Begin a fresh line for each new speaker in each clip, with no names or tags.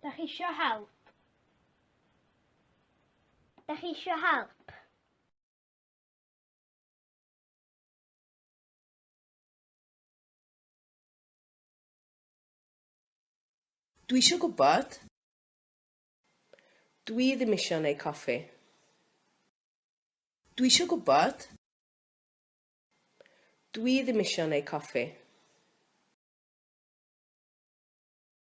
Da chi isio help? Da chi isio help? Dwi isio gwybod. Dwi ddim isio neu coffi. Dwi isio gwybod. Dwi ddim isio neu coffi.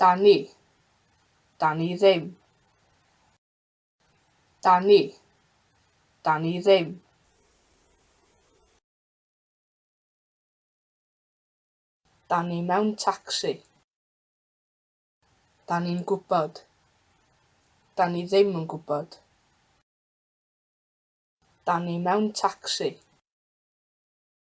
Dani. Dani ddim. Dani. Dani ddim. Dani mewn tacsi. Dani'n gwybod. Dani ddim yn gwybod. Dani mewn tacsi.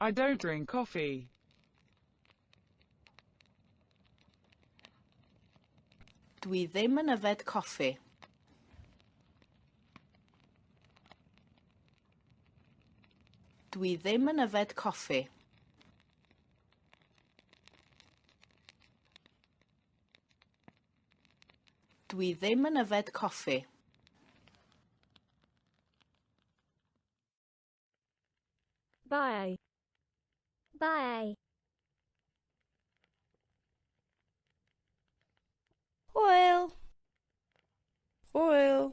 I don't drink coffee. Dwi ddim yn yfed coffi. Dwi ddim yn yfed coffi. Dwi ddim yn yfed coffi. Bye. Bye. Hwyl. Hwyl.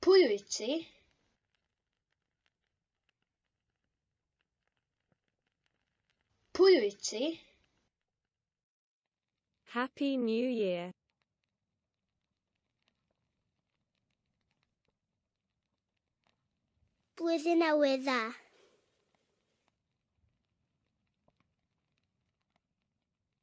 Pwy wyt ti? Pwy wyt ti? Happy New Year. Blwyddyn Newydd Dda.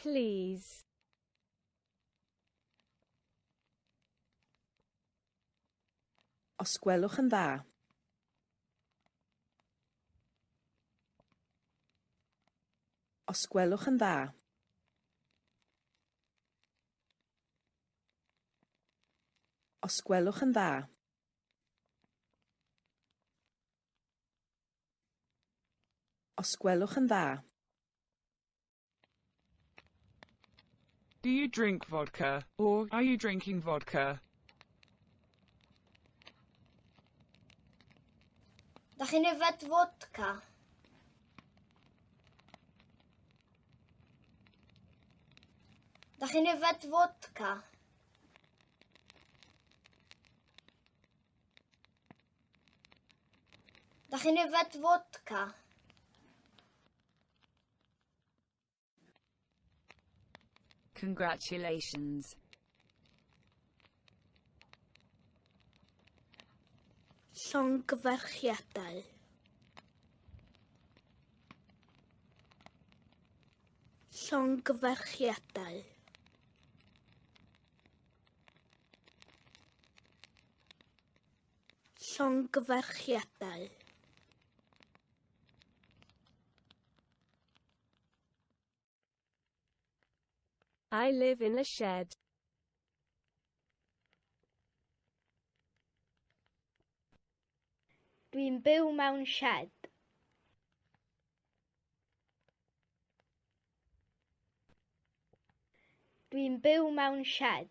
Please. Os gwelwch yn dda. Os gwelwch yn dda. Os gwelwch yn dda. Os gwelwch yn dda. Do you drink vodka? Or, are you drinking vodka? Da chi'n yfed vodka? Da chi'n yfed vodka? Da chi'n yfed fodca? Congratulations. Llongyfarchiadau. Llongyfarchiadau. Llongyfarchiadau. I live in a shed. Dwi'n byw mewn shed. Dwi'n byw mewn shed.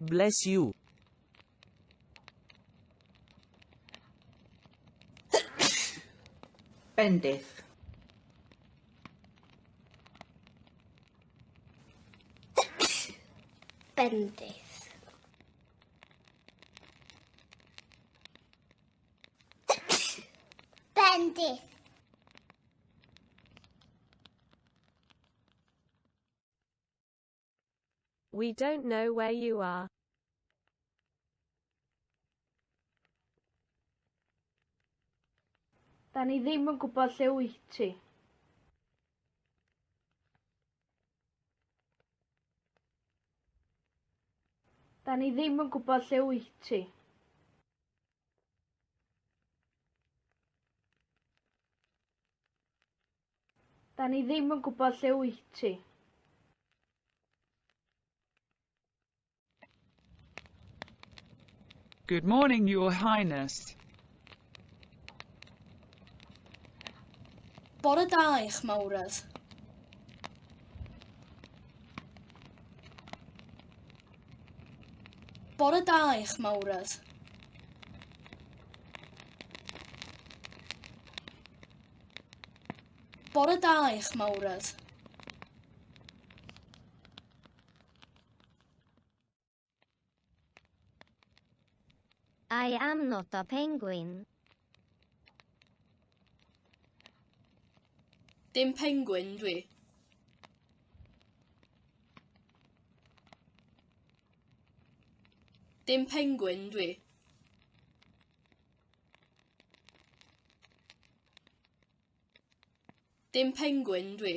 Bless you. Bendith. Bendith. Bendith. We don't know where you are. Da ni ddim yn gwybod lle wyt ti. Da ni ddim yn gwybod lle wyt ti. Da ni ddim yn gwybod lle wyt ti. Good morning, Your Highness. Bore da, eich mawredd. Bore da, eich mawredd. Bore da eich mawredd. I am not a penguin. Dim penguin dwi. Dim penguin dwi. Dim pengwyn dwi.